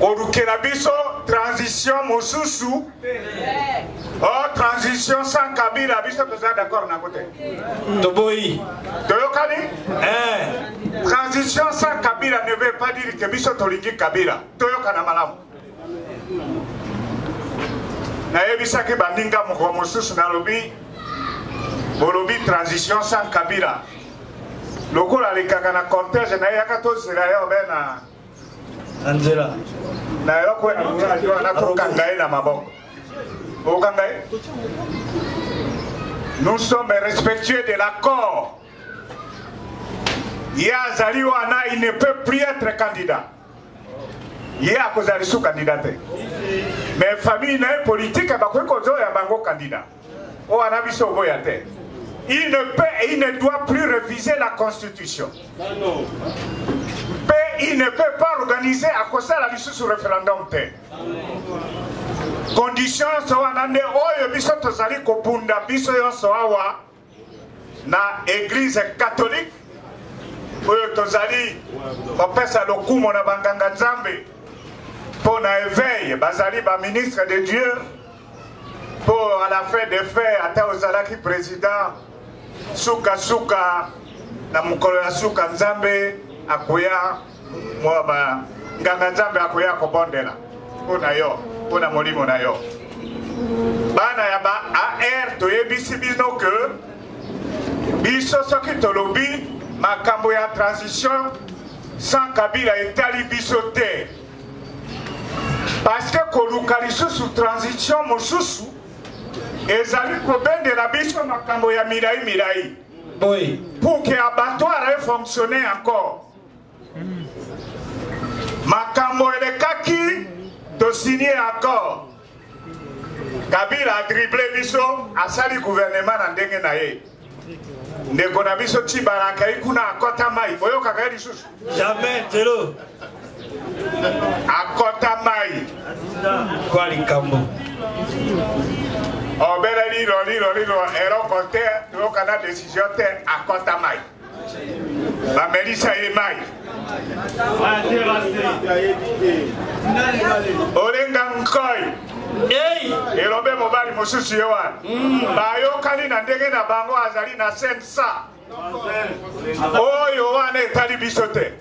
kolukela biso transition mosusu o oh, transition sans kabila biso toza d'accord nango te toboyi toyokani eh. transition sans kabila ne veut pas dire ke biso tolingi kabila toyokana malamu nayebisaki baninga mokolo mosusu nalobi bolobi transition sans kabila lokola alekaka na cortège na ye yaka tozela yo be na na nzela na eloko nakokanga ye na maboko okanga ye nous sommes respectueux de l'accord ye azali wana il ne peut plus être candidat ye akozala lisusu kandida te me famille na ye politike bakoki kozoya bango kandida oyo wana biso oboya te il ne peut et il ne doit plus reviser la constitution mpe il ne peut pas organiser akosala lisusu référendum te condition so wana nde oyo biso tozali kobunda biso yonso awa na eglise catholique oyo tozali kopesa lokumo na banganga nzambe mpo na eveil bazali baministre de dieu mpo à la fin de fait ata ozalaki président sukasuka na mokolo ya suka nzambe akoya mwa ba nganga nzambe akoya kobondela mpo na yo mpo na molimo na yo bana ya ba ar toyebisi bino ke biso soki tolobi makambo ya transition sans kabila etali biso te parceke koluka lisusu transition mosusu ezali kobendela biso makambo ya milai milai boye pour que abattoir efonctionne encore makambo elekaki tosigne accord kabila adrible biso asali guvernema na ndenge na ye ndeko na biso tibala akai kuna akota mai boyokaka ye lisusu jamais telo akota mai kwa likambo obeleli lolilolilo eloko te toyoka na desizio te akota mai bamelisa ye mai olenga nkoi elobe mobali mosusu ye wana mm. bayokani na ndenge na bango azali na sensa oyo wana etali biso te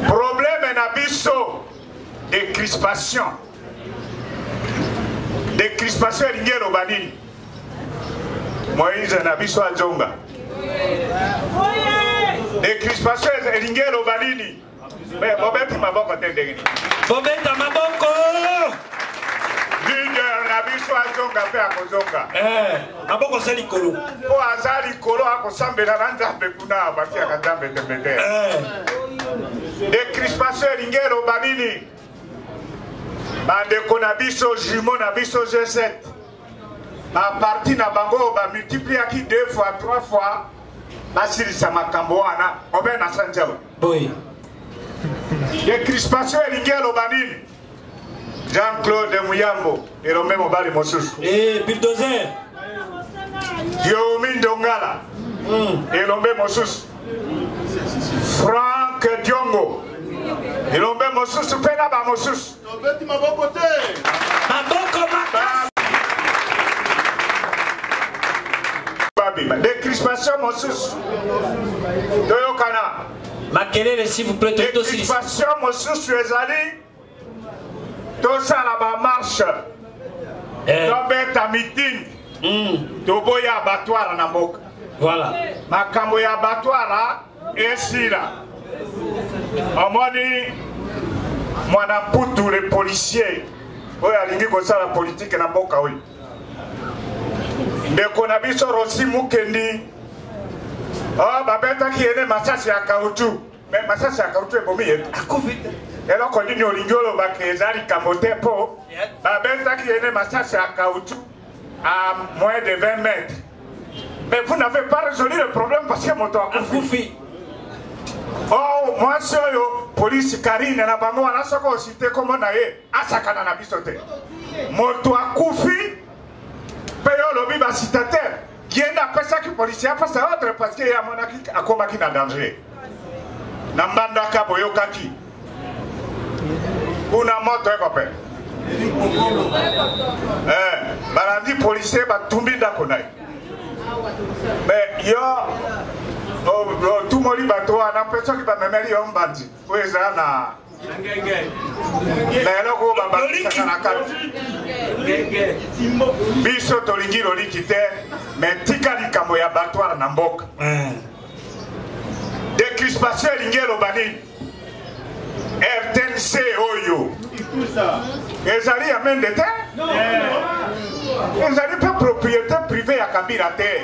probleme na biso decrispation decrispation elingi eloba nini moise na biso ajonga decrispation elingi eloba nini bobeti maboko te ndenge nini bobeta maboko leader na biso azonga mpe akozonga eh, maboko aza likolo mpo aza likolo akosambela na nzambe kuna batiaka nzambe tembe te eh. decrispation elingi eloba nini bandeko na biso jumeau na biso G7 baparti na bango oyo bamultipliaki deux fois trois fois basilisa makambo wana obe na sanja oyo decrispation elingi eloba nini jean claude muyambo elombe mobali mosusu eh, bildozer diomi ndongala hmm. elombe mosusu Frank Diongo. Bilombe mosusu mpe na bamosusu. Tobeti maboko te. Maboko makasi. Babima. Decrispation mosusu. Toyokana. Makelele s'il vous plaît. Decrispation mosusu ezali. tosala bamarshe eh. tobeta miting mm. toboya abatwara na mboka voilà. makambo ya abatwara esila omoni mwana mputu le policier oyo alingi kosala politike na mboka oyo ndeko na biso rosi mukendi oh, babetaki ye ne masasi ya kautu me masasi ya karutu ebomi ye akufi te eloko nini olingi olobaka eza likambo te mpo babetaki ye ne masasi ya kautu à moins de 20 mètres mais vous n'avez pas résolu le problème parce que moto akufi oh mwasi oyo polisi karine na bango wana soki osite nkombo na ye asakana na biso te moto akufi mpe yo olobi basitatere ye nde apesaki policier apesa ordre parce que ye amonaki akomaki na danger na mbandaka boyokaki kuna moto ekope eh, balandi policier batumbi ndako na ye me yo otumoli bato wana mpe soki bamemeli yo mbandi oyo eza na na eloko oyo babakisaka na kati biso tolingi loliki te me tika likambo ya batware na mboka eh. decrispation elingi eloba nini rtnc oyo ezali ya mende te eh. ezali mpe propriété privé ya kabila te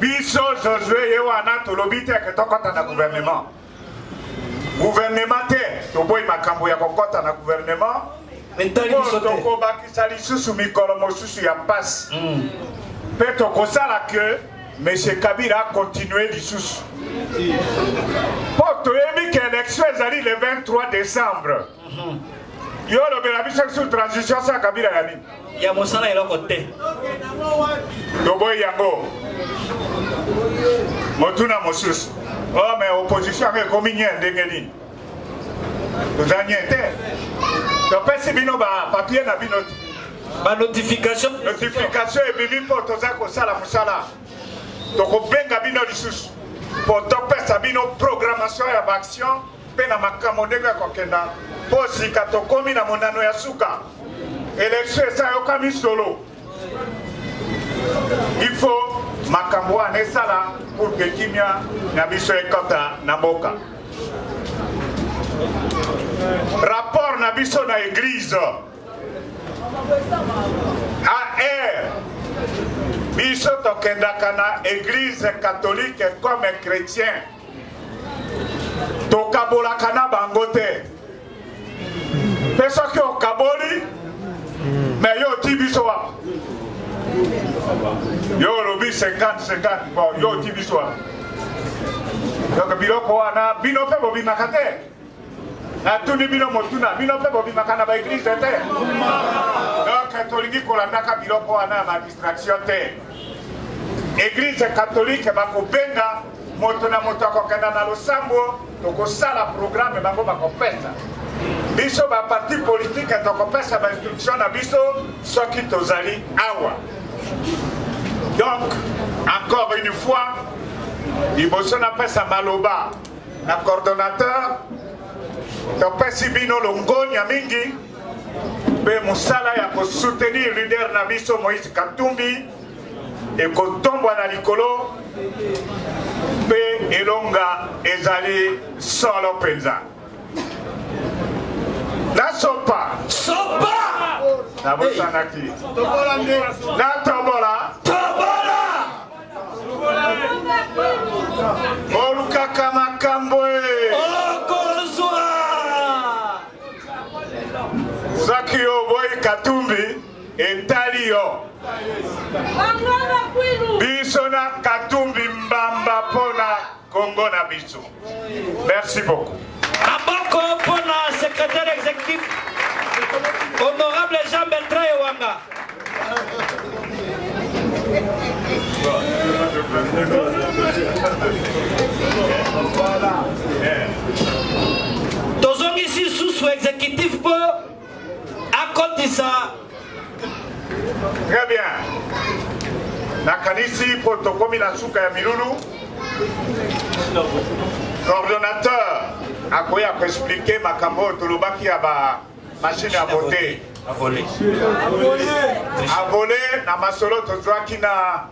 biso josue ye wana tolobi te ke tokɔta na gouvernement gouvernement te toboyi makambo ya kokɔta na gouvernement po tokobakisa lisusu mikolo mosusu ya mpasi hmm. mpe tokosala ke monsieur kabila akontinue lisusu mpo toyebi ke election ezali le 23 décembre yo olobela biso sur transition sa kabila ya nini ya mosala eloko te toboyi yango motuna mosusu o oh, me opposition yango ekomi nye ndenge nini toza nye te topesi bino bapapie na bino te banotification notification ebimi mpo toza kosala mosala tokobenga bino lisusu mpo topesa bino programmation ya baaction mpe na makambo ndenge ya kokenda mpo sika tokomi na monano ya suka elektio esayokami solo ifo makambo wana esala pour ke kimia na biso ekota na mboka rapport na biso na eglise ar biso tokendaka na eglise catholique comme chrétien tokabolaka na bango te mpe soki okaboli me yo oti biso wapi yo olobi 50-50 bon yo oti biso wapi donc biloko wana bino mpe bobimaka te natuni bino motuna bino mpe bobimaka na baeglize te donc tolingi kolandaka biloko wana ya badistraction te eglize katolike bakobenga moto na moto akokenda na losambo tokosala programe bango bakopesa biso baparti politike tokopesa bainstruction na biso soki tozali awa donc encore une fois liboso napesa maloba na coordonnateur topesi bino longonya mingi mpe mosala ya kosoutenir leader na biso moïse katumbi ekotombwa na likolo mpe elonga ezali solo mpenza nasopa sopa nabosanaki natobola tobola bolukaka makambo okozwa soki oboyi katumbi etali yo biso na katumbi mbamba mpona Congo na biso. Merci beaucoup. Maboko mpo na secrétaire exécutif honorable Jean Bertrand Ewanga. Tozongisi susu exécutif mpo akotisa très bien nakanisi mpo tokomi na suka ya milulu coordonnateur akoya koexplike makambo oyo tolobaki ya ba machine ya vote avole na masolo tozwaki na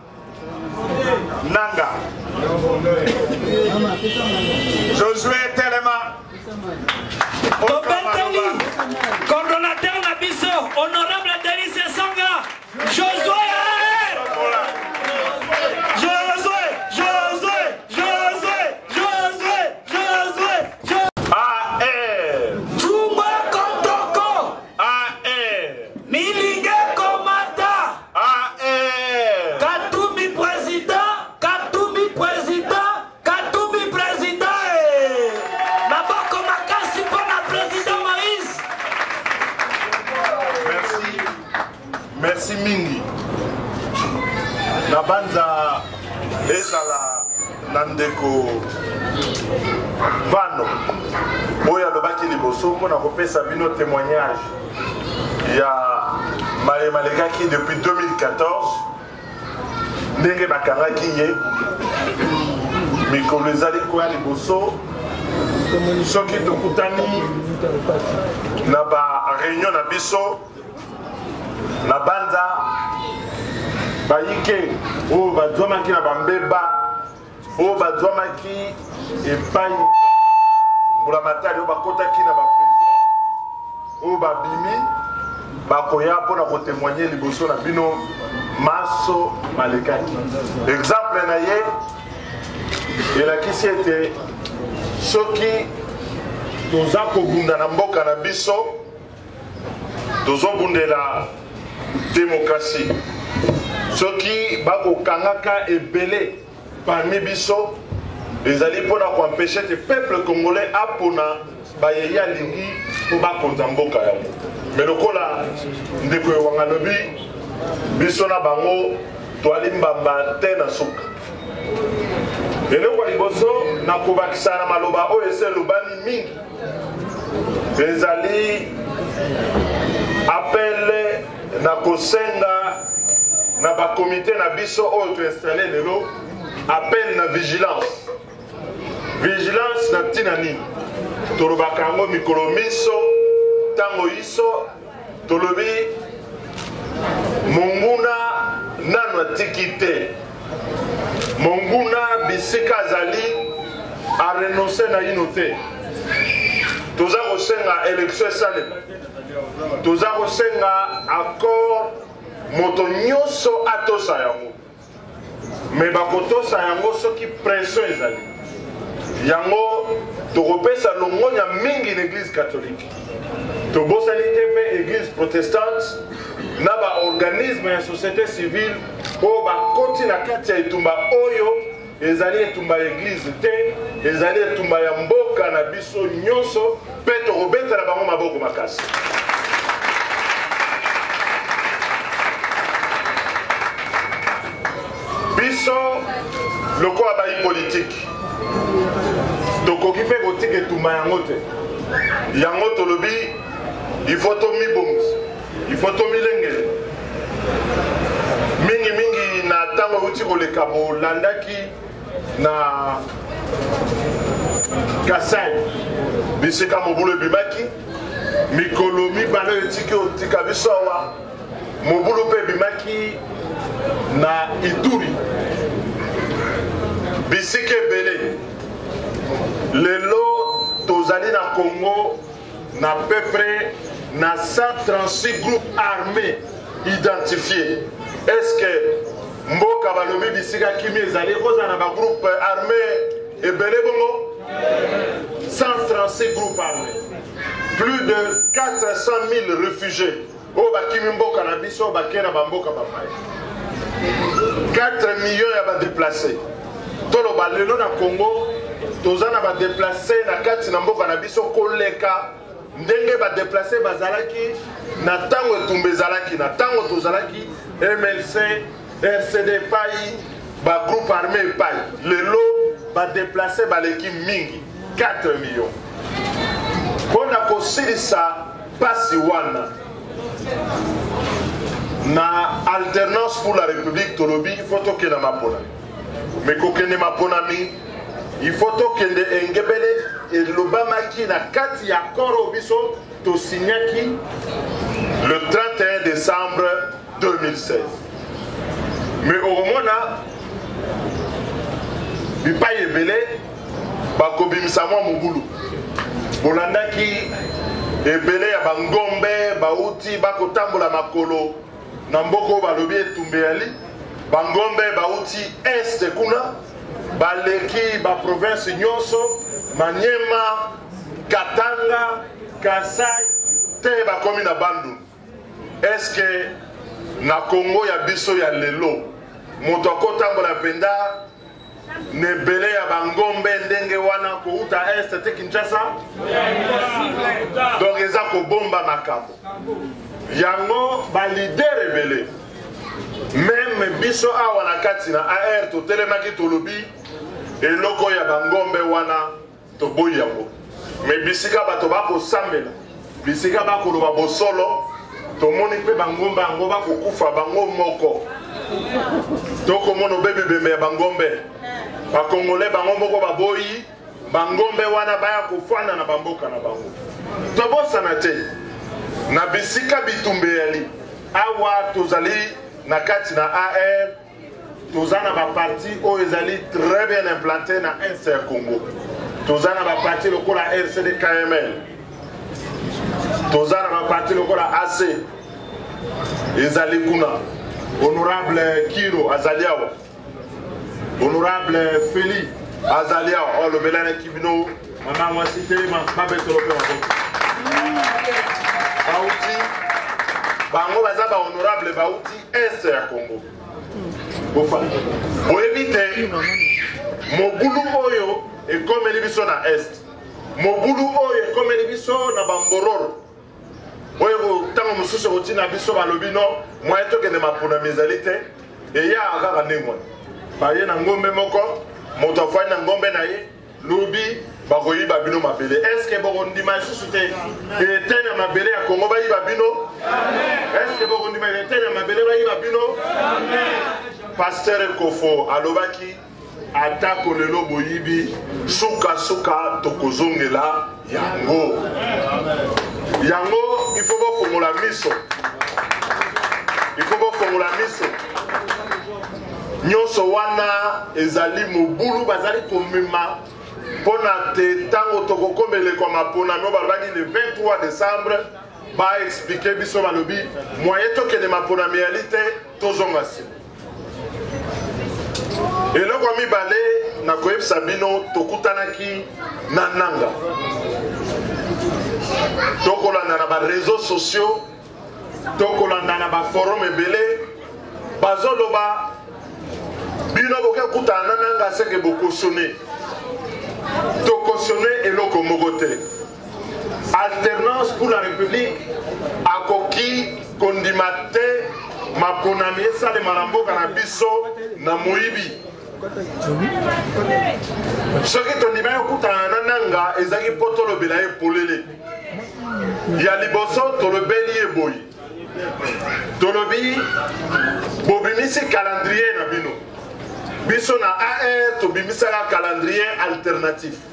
nanga josue telema tobeteli coordonnateur na biso honorable delise sanga josue Ah, eh. Katumbi président, Katumbi président, Katumbi président. Eh. Maboko makasi pona président Moïse. Merci. Merci mingi. Nabanza ezala na ndeko Vano oyo alobaki liboso mpo na kopesa bino témoignage ya maye malekaki depuis 2014 ndenge bakangaki ye mikolo ezali koya liboso soki tokutani na bareunion na biso na banza bayike oyo bazwamaki na bambeba oyo bazwamaki epai mbulamatari oyo bakotaki na baprison oyo babimi bakoya mpo na kotemoigne liboso na bino maso malekaki exemple na ye elakisi ete soki toza kobunda na mboka na biso tozobundela demokrasi soki bakokangaka ebele parmi biso ezali mpo na koempeshe te peuple congolais apona baye ye alingi mpo bakonza mboka yango me lokola ndeko ewanga alobi biso na bango twali mbamba te na suka eloko ya liboso na kobakisa na maloba oyo esi elobami mingi ezali apele na kosenga na bakomite na biso oyo toinstalle lelo apele na vigilance vigilance na ntina nini tolobaka yango mikolo miso ntango iso tolobi monguna nano atiki te monguna bisika azali arenonse naino te toza kosenga elektio esalema toza kosenga accord moto nyonso atosa yango me bakotosa yango soki pression ezali yango tokopesa longonya mingi na eglise katholike tobosani te mpe eglise protestante na baorganisme ya société civile oyo bakoti na kati ya etumba oyo ezali etumba ya eglise te ezali etumba ya mboka na biso nyonso Mpe tokobetela bango maboko makasi. Biso lokola bayi politiki tokoki mpe kotika etumba yango te yango tolobi ifo tomibongisa ifo tomilengele mingimingi na ntango euti koleka bolandaki na kasai bisika mobulu ebimaki mikolo mibale oyo etiki otika biso awa mobulu mpe ebimaki na ituri bisika ebele lelo tozali na congo Na peu près na 136 groupes armés identifiés. Est-ce que mboka balobi bisika kimi ezali ekozala na bagroupe armé ebele bongo 136 groupes armés plus de 400 000 réfugiés oyo bakimi mboka na biso bakei na bamboka bapaya 4 million ya badeplace toloba lelo na congo toza na badeplace na kati na mboka na biso koleka ndenge badeplace bazalaki na ntango etumba ezalaki na ntango tozalaki mlc rcd epai bagroupe armé epai lelo badeplace baleki mingi 4 million mpo na kosilisa Pasi wana na alternance pour la république tolobi il faut tokenda maponami mais kokende maponami il faut tokende engebele elobamaki na kati ya accord oyo biso tosignaki le 31 décembre 2016 mais okomona bipai ebele bakobimisa mwa mobulu bolandaki ebele ya bangombe bauti bakotambola makolo na mboka oyo balobi etumbe yali bangombe bauti este kuna baleki baprovince nyonso manyema katanga kasai te bakomi na bandundu eske na kongo ya biso ya lelo moto akotambola mpenza na ebele ya bangombe ndenge wana kouta est te kinshasa donc eza kobomba makambo yango balider ebele meme biso awa na kati na ar totelemaki tolobi eloko ya bangombe wana Toboyi yango. Mais bisika bato bakosambela, bisika bakoloba bosolo, tomoni mpe bangomba yango bakokufa bango moko. Tokomona obebi bembe ya bangombe. Bakongole bango moko baboyi bangombe wana baya kofanda na bamboka na bango. Tobosana te na bisika bitumba eyali awa tozali na kati na AR toza na baparti oyo ezali très bien implante na est ya congo toza na baparti lokola rcd kml toza na baparti lokola ac ezali kuna honorable kiro azali awa honorable feli azali awa oyo alobelanaki bino mama mwasi telema babetolo mpe maboko bauti bango baza bahonorable bauti Est ya Congo. Bofandi. Boyebi te mobulu oyo ekomeli biso na Est. Mobulu oyo ekomeli biso na bambororo oyo ntango mosusu ekotina biso balobi no moye tokende maponami ezali te eya kaka ndenge wana baye na ngombe moko moto afandi na ngombe na ye lobi bakoyiba bino mabele eske bokondima lisusu te leta ya mabele ya kongo bayiba bino eske bokondima leta ya mabele bayiba bino pasteur kofo alobaki atako lelo boyibi sukasuka tokozongela yango yango ifo bofongola miso ifo bofongola miso nyonso wana ezali mobulu bazali komema mpo na te ntango tokokoma eleko ya maponami oyo balobaki le 23 décembre baexplike biso balobi mwaye tokende maponami yali te tozonga nsima eloko ya mibale na koyebisa bino tokutanaki na nanga tokolanda na bareseau sociaux tokolanda na baforum ebele bazoloba bino boke kutana na nanga seke bokosone tokosone eloko moko te alternance pour la république akoki kondima te maponami esalema na mboka na biso na moyibi soki tondima ye okutana na nanga ezalaki mpo tolobela ye polele ya liboso tolobeli ye boye tolobi bobimisi calendrier na bino biso na ar tobimisaka calendrier alternatif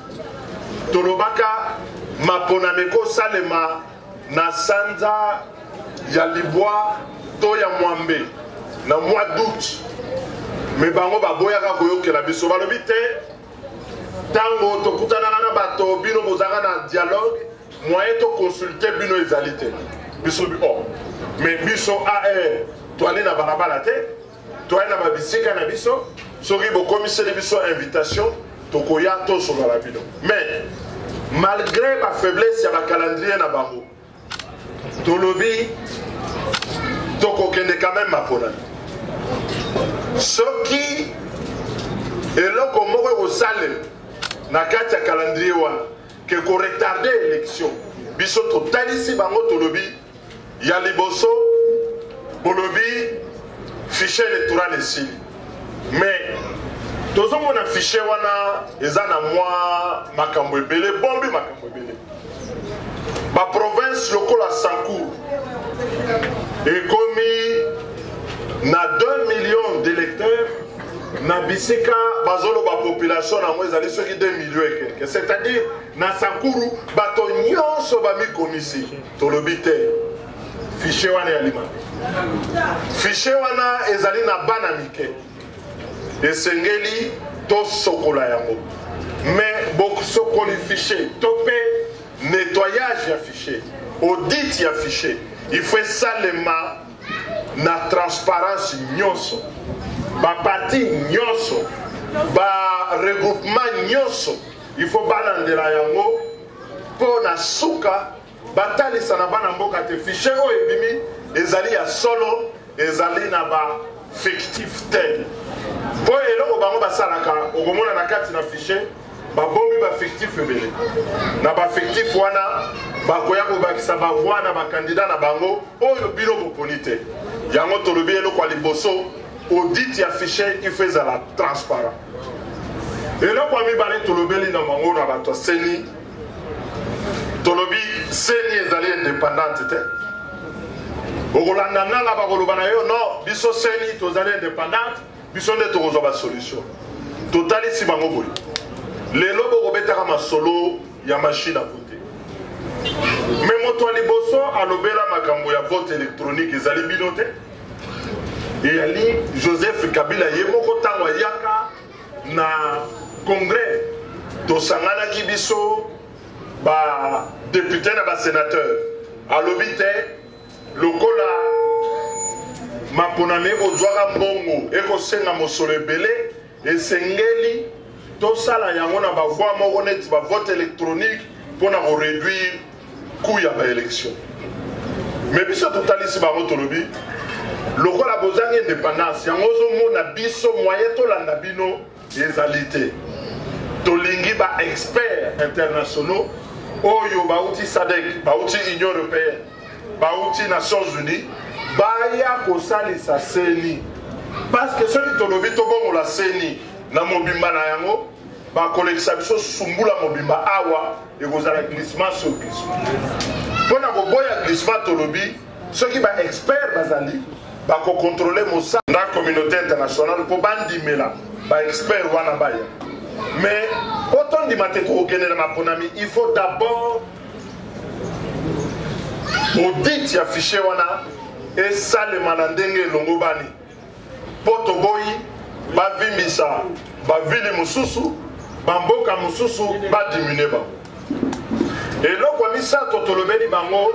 tolobaka maponami ekosalema na sanza ya libwa to ya mwambe na mois d'août me bango baboyaka koyokela biso balobi te ntango tokutanaka na bato bino bozalaka na dialogue moyen toconsulte bino ezali te biso o oh. me biso ae eh, toali na balabala te toya na babisika na biso soki bokomiseli biso invitation tokoya tozonga na bino mais malgré bafaiblesse ya bacalendrier na bango tolobi tokokende quand même maponami soki eloko moko ekosalema na kati ya calendrier wana ke koretarde élection biso totalisi bango tolobi Ya liboso bolobi fichier electoral esili mais tozomona fichier wana eza na mwa makambo ebele bombi makambo ebele baprovince lokola sancour ekomi na 2 millions d'électeurs na bisika bazoloba population yango ezali soki 2 millions ekeke c'est-à-dire na sankuru bato nyonso bamikomisi tolobi te fichier wana ya limami fichier wana ezali na bana mike esengeli tosokola yango mais bosokoli fichier to mpe nettoyage ya fichier audit ya fichier il faut esalema na transparence nyonso baparti nyonso baregroupement nyonso il faut balandela yango mpo na suka batalisa na bana mboka te fichier oyo ebimi ezali ya solo ezali na ba fictif te mpo eloko bango basalaka okomona na kati na fichier babomi bafictif ebele na bafictif wana bakoya kobakisa bavoi na bakandida na bango oyo bino boponi te yango tolobi eloko ya liboso audit ya fichier il faut ezala transparent eloko ya mibale tolobeli na mango na bato ya seni tolobi seni ezali independante te okolanda nanga bakoloba na yo no biso seni tozali independante biso nde tokozwa basolution totalisi bango boye lelo bokobetaka masolo ya mashine a vote me moto ya liboso alobela makambo ya vote électronique ezali bino te eyali joseph kabila ye moko ntango ayaka na congrès tosanganaki biso badepute na basenateur alobi te lokola maponami ekozwaka mbongo ekosenga mosolo ebele Esengeli tosala yango na ba voix moko neti ba vote electronique mpo na ko réduire coût ya ba élection mais biso totalisi bango tolobi lokola bozangi indépendance yango ozomona biso moye tolanda bino ezali te tolingi ba experts internationaux oyo bauti sadek bauti union européenne bauti nations unies baya kosalisa seni parceke soki tolobi tobongola seni na mobimba na yango bakolekisa biso sumbula mobimba awa ekozala glissement sur glissement mpo na koboya glissement tolobi soki baexpert bazali bakokontrole mosala na communauté internationale mpo bandimela baexpert wana baya mais mpo tondima te kokokende na maponami il faut d'abord audit ya fichier wana esalema na ndenge elongobani mpo toboyi bavimbisa bavili mosusu bamboka mosusu badiminue bango eloko ya misato tolobeli bango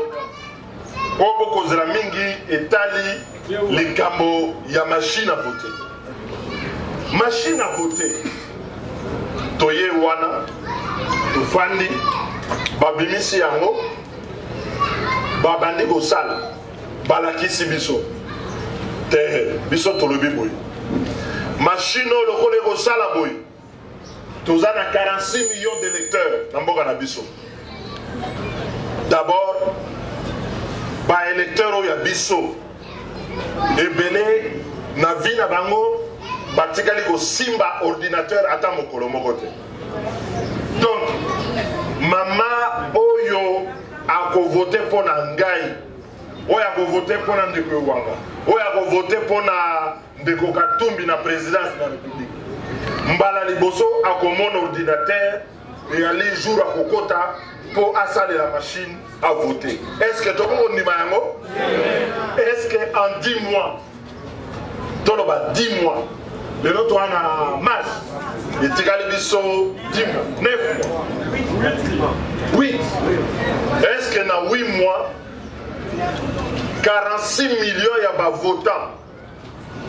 oyo bokozela mingi etali likambo ya machine à voter machine à voter toye wana tofandi babimisi yango babandi kosala balakisi biso te biso tolobi boye mashine oyo lokola ekosala boye toza na 46 millions d'électeurs na mboka na biso d'abord baélecteur oyo ya biso ebele na vie na bango batikali kosimba ordinateur ata mokolo moko te donc mama oyo akovote mpo na ngai oyo akovote mpo na ndeko ewanga oyo akovote mpo na ndeko katumbi na présidence de la république mbala liboso akomona ordinateur eyali jour akokota mpo asalela machine avote est ce que tokoki kondima yango est ce que en 10 mois toloba 10 mois lelo toa na mars etikali biso 10 mois 9 mois 8 est ce que na 8 mois 46 millions ya bavotant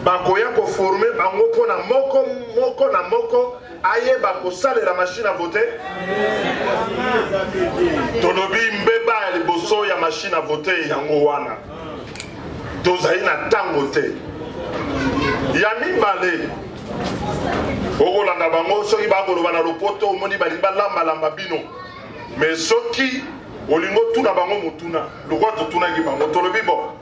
bakoya koforme bango mpo na moko moko na moko ayeba kosalela mashine a vote tolobi mbeba ya liboso ya mashine a vote yango wana tozali na ntango te ya mibale okolanda bango soki bakoloba na lopoto omoni balingi balambalamba bino me soki olingi otuna bango motuna lokola totunaki bango tolobi bo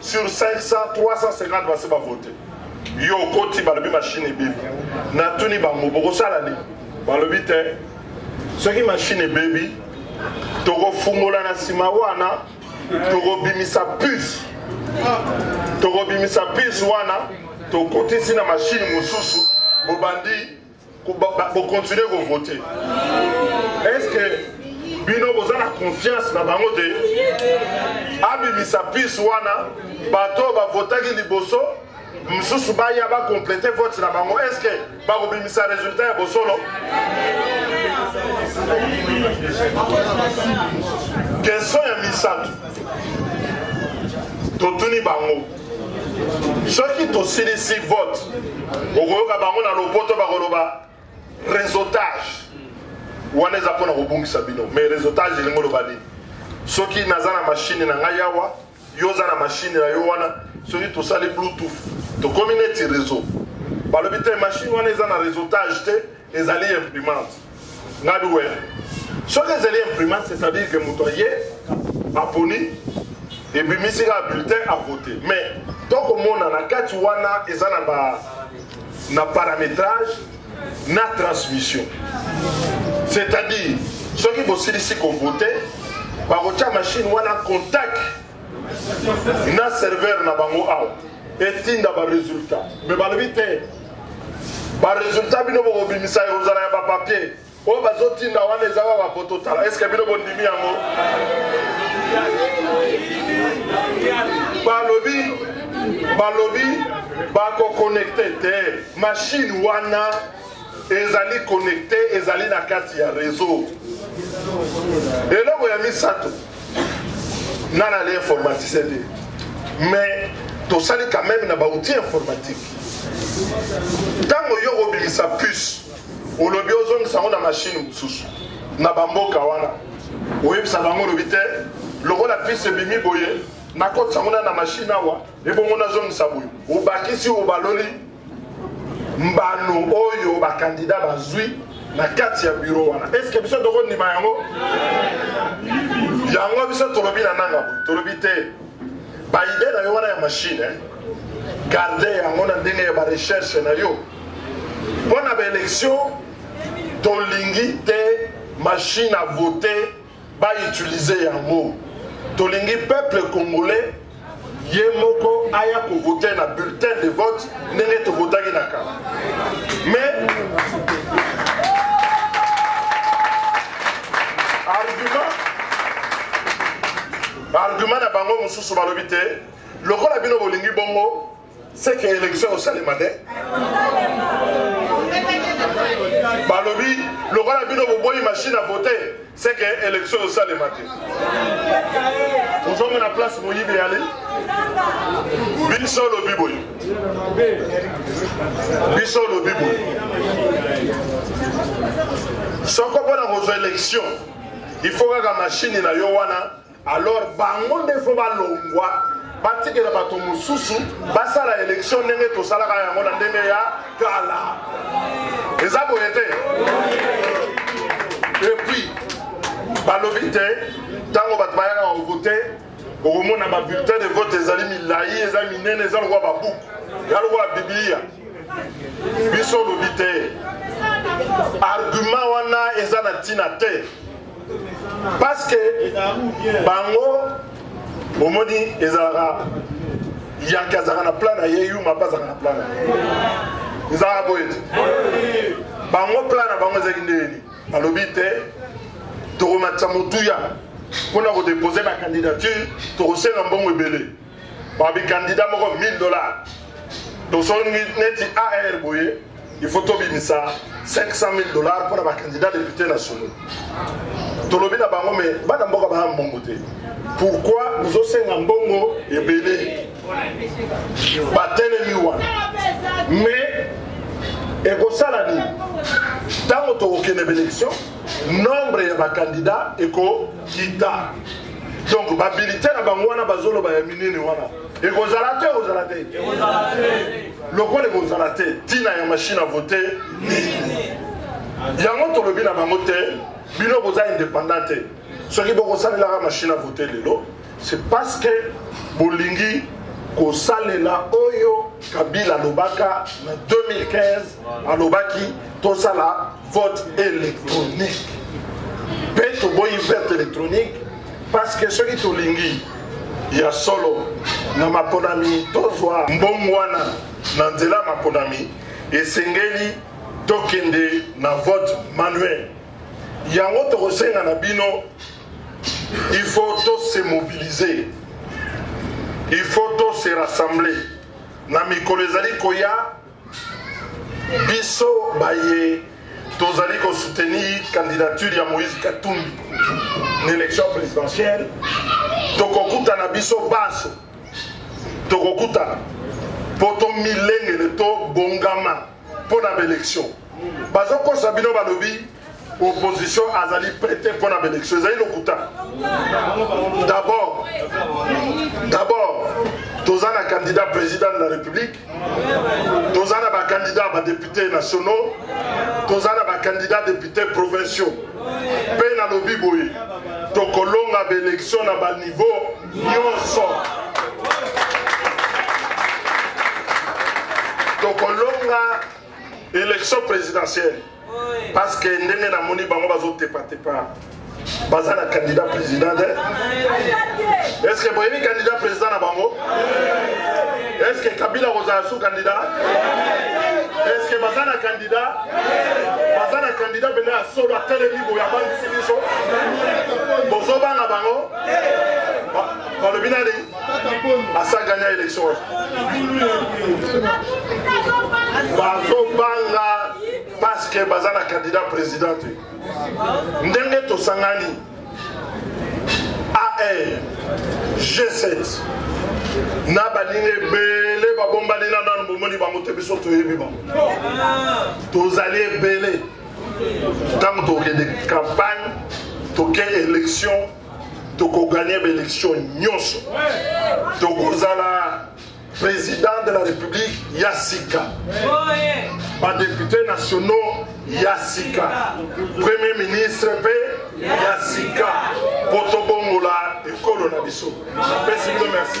sur 500 350 basi bavote yo okoti balobi mashine ebebi natuni bango bokosala nini balobi te soki mashine ebebi tokofungola na nsima wana tokobimisa puce tokobimisa puce wana tokotisi na mashine mosusu bobandi Bo continuer ko voter. Est-ce que bino boza na confiance na bango te abimisa pise wana bato oyo bavotaki liboso mosusu baya bakomplete vote na bango estce bakobimisa résultat ya bosolo question ya misato totuni bango soki tosilisi vote okoyoka bango na lopoto bakoloba réseautage wana eza mpo na kobungisa bino mais réseautage elingi oloba nini soki naza na mashine na ngai awa yo oza na mashine na yo wana soki tosali bluetooth tokomi neti réseau balobi te mashine wana eza na réseautage te ezali imprimante ngadi we soki ezali imprimante c'est à dire que moto aye aponi ebimisi kaka bulletin a vote mais tokomona na kati wana eza na ba na paramétrage na transmission c'est à dire soki bosilisi kovote bakotya machine wana contact na serveur na bango awa etinda baresultat me balobi te baresultat bino bokobimisa ekozala ya bapapier oyo bazotinda wana eza kaka kototala eske bino bondimi yango balobi balobi bakokonekte te mashine wana ezali konekte ezali na kati ya reseau eloko ya misato nga nale informaticien te mais tosali quand même na baoutil informatique ntango yo kobimisa puce olobi ozongisa yango na mashine mosusu na bamboka wana oyebisa bango olobi te lokola puce ebimi boye nakotisa yango na na mashine awa ebongo nazongisa boye obakisi obaloli mbano oyo bakandida bazwi na kati ya biro wana eske biso tokondima yango yango biso tolobi na nanga boye tolobi te baide na yo wana ya mashine eh? garde yango na ndenge ya barecherche na yo mpo na baelektio tolingi te mashine avote ba utiliser yango tolingi peuple congolais ye moko aya kovote na bulletin de vote ndenge tovotaki na kala mais argument argument na bango mosusu balobi te lokola bino bolingi bongo c'est que élection osalema nde balobi lokola bino boboyi machine à voter c'est que élection osalema te ozomona place moyibi eyali biso olobi boye biso olobi boye soko mpo na kozwa élection il faut kaka mashini na yo wana Alors bango nde faut balongwa batikela bato mosusu basala elektio ndenge tosalaka yango na ndenge ya kala eza boye te epuis balobi te ntango bato bayaka kovote okomona babulletin de vote ezali milai eza minene eza lokola babuku ya lokola biblia biso olobi te argument wana eza na ntina te parce que bango omoni ezalaka yanke azalaka na plan na ye yuma mpe azalaka na plan na ye ezalaka boye te bango plan na bango ezalaki nde nini alobi te tokomatisa motuya mpo na kodepose bakandidature tokosenga mbongo ebele babi kandida moko 1000 dollars tosongi neti ar boye il faut tobimisa 500 000 dollars mpo na bakandida depute nationaux tolobi na bango me bana mboka baya mbongo te pourkui bozosenga mbongo ebele batelemi wana mais ekosala nini ntango tokokende belection nombre ya bakandida ekokita donc babilite na bango wana bazoloba ya minene wana ekozala te ekozala te lokola ekozala te ntina ya mashine a vote yango tolobi na bango te bino boza indépendant te soki bokosalelaka mashine a vote lelo c'est parce que bolingi kosalela oyo kabila alobaka na 2015 alobaki tosala vote électronique mpe toboyi vote électronique parce que soki tolingi ya solo na maponami tozwa mbongo wana na nzela ya maponami esengeli tokende na vote manuel yango tokosenga na bino il faut to se mobiliser il faut to se rassembler na mikolo ezali koya Biso baye tozali ko soutenir candidature ya Moïse Katumbi na election présidentielle tokokutana biso banso tokokutana mpo tomilengele tobongama mpo na baelection bazokosa bino balobi opposition azali près te mpo na baélection ezali lokuta d'abord d'abord toza na candidat président de la république toza na bacandidat ya badéputé nationaux toza na bacandidat député provinciaux mpe nalobi boye tokolonga baélection na baniveau nyonso tokolonga élection présidentielle parce que ndenge namoni bango bazotepatepa baza na candidat président te est ce que boyebi candidat président na bango est ce que kabila kozala sous candidat est ce que baza na candidat baza na candidat mpenza ya solo atelemi boye abangisi biso bozobanga bango balobi nani asa gagna élection wapi bazobanga parce que baza na candidat président te ndenge tosangani ae g7 na baninga ebele babombani na nano bomoni bango te biso toyebi bango tozali ebele ntango tokende campagne toke élection tokoganye baelektio nyonso tokozala président de la république ya sika badepute nationaux ya sika premier ministre mpe ya sika mpo tobongola ekolo na biso napesi bino merci